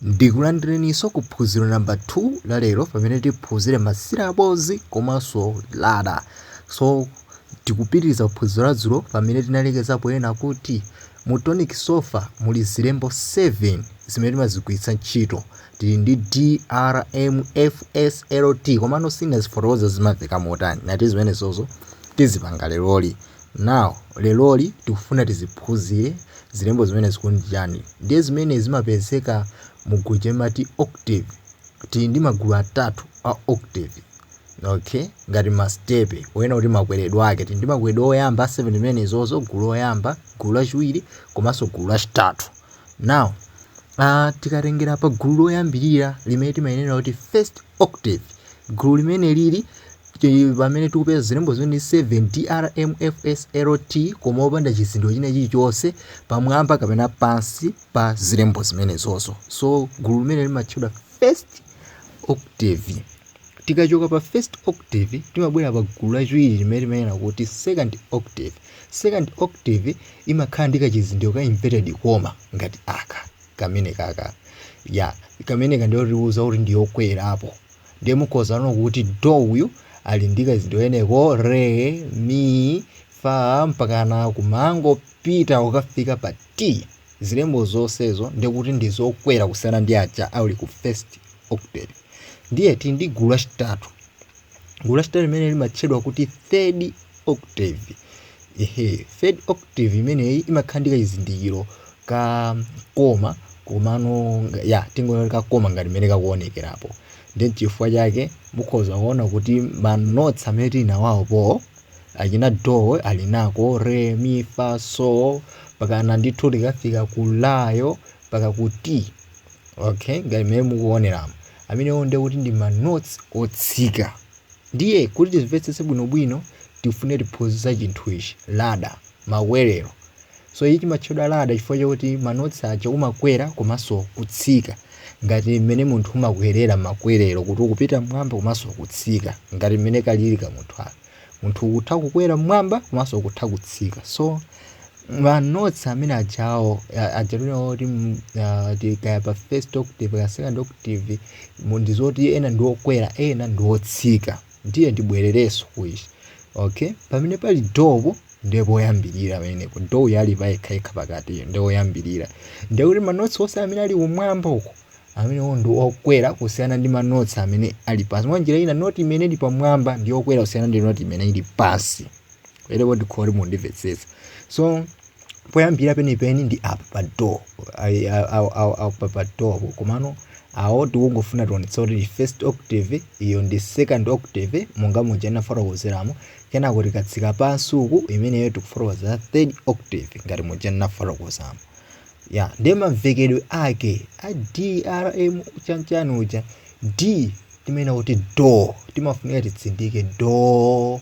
Ndikulandileniso ku phunziro number 2 la lero pamene tiphunzire ma syllables komanso ladder. So tikupitiliza ku phunziro la dzulo pamene tinalekeza ponena kuti mu tonic solfa muli zilembo 7 zimene timazigwiritsa ntchito. Tili ndi D, R, M, F, S, L, T komano sindinazifotokoze kuti zimamveka motani. Ngati zimenezozo tizipanga leroli. Now leroli tikufuna tiziphuzile zilembo zimenezi kuti ndi chani ndiye zimene zimapezeka mugulu limati octave tili ndi magulu atatu a octave ok ngati masitepe ponena kuti makweledwe ake tili ndi makweledwe oyamba a 7 zimenezozo gulu loyamba gulu lachiwiri komanso gulu lachitatu now aah tikatengela pagulu loyambilira limene timanena kuti first octave gulu limenelili pamene tikupeza zilembo zimene 7 drmfslt koma opanda chizindikiro china chilichonse pamwamba kapena pansi pa zilembo zimenezozo. So gulu limeneli limatchedwa first octave. Tikachoka pa first octave timabwera pa gulu lachiwiri limene timanena kuti second octave. Second octave imakhala ndi kachizindikiro ka inverted comma ngati aka kamenekaka ya kameneka ndiyotiuza kuti ndi yokwerapo ndiye mukhoza kuona kuti do uyu ali ndi kachizindikiro kameneko re mi fa mpakana kumangopita ukafika pa t zilembo zonsezo ndiye kuti ndi zokwera kusiyana ndi aja ali ku first octave ndiye tili ndi gulu lachitatu gulu lachitatu limene limatchedwa kuti third octave ehe third octave imeneyi imakhala ndi kachizindikiro ka koma komano nga- ya tingonena ka koma ngati mmene kakuonekerapo ndi chifukwa chake mukhoza kuona kuti manotsi amene tili nawo apo achina do ali nako re mi fa so mpakana ndithu tikafika ku layo mpaka ku t okay ngati mmene mukuoneramu amenewo ndiye kuti ndi manotsi otsika Ndiye kuti timvetsetse bwinobwino tifune tiphunzire za chinthu ichi, ladder, makwerero. So ichi chimatchedwa ladder chifukwa chakuti manotsi aja umakwera komanso kutsika ngati mmene munthu umakwerera makwerero kuti ukupita mmwamba komanso kutsika ngati mmene kalili kamunthu aka. Munthu ukutha kukwera mmwamba komanso ukutha kutsika. So manotsi amene ajawo ajalina oti mm, ah, ti- kaya pa first octave kaya second octave mu- ndi zoti ena ndi okwera ena ndi otsika ndiye ndibwererenso kuichi okay pamene pali dopo ndiye poyambirira pamenepo do yali payekhayekha pakati iyo ndiye oyambirira ndiye kuti manotsi onse amene ali kumwamba uko amenewo ndi okwera kusiyana ndi manotsi amene ali pansi mwa njira ina noti imene ili pamwamba ndi okwera kusiyana ndi noti imene ili pansi ere wodi khori mundimvetsetsa so poyambira penipeni ndi apa pa do Ai- a- a- a- a- pa pa do po. komano awo tikungofuna tionetse kuti ndi first octave iyo ndi second octave monga muja ndinafotokozeramo kenako tikatsika pansi uku imeneyo tikufotokoza third octave ngati muja ndinafotokozamo ndiye mamvekedwe ake a drm chanchani uja d timanena kuti do timafunika titsindike do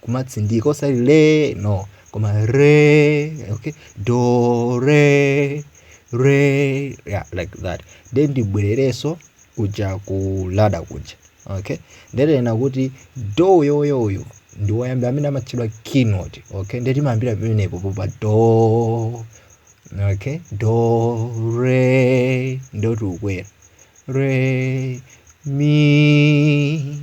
kumatsindika osati le no koma re okay do re re yeah, like that nde ndibwerereso kuja ku ladder kuja okay nde tinena kuti do uyoyo uyu ndi woyambira amene amatchedwa keynote okay nde timayambira pamenepo pa do okay do re nde tikukwera re mi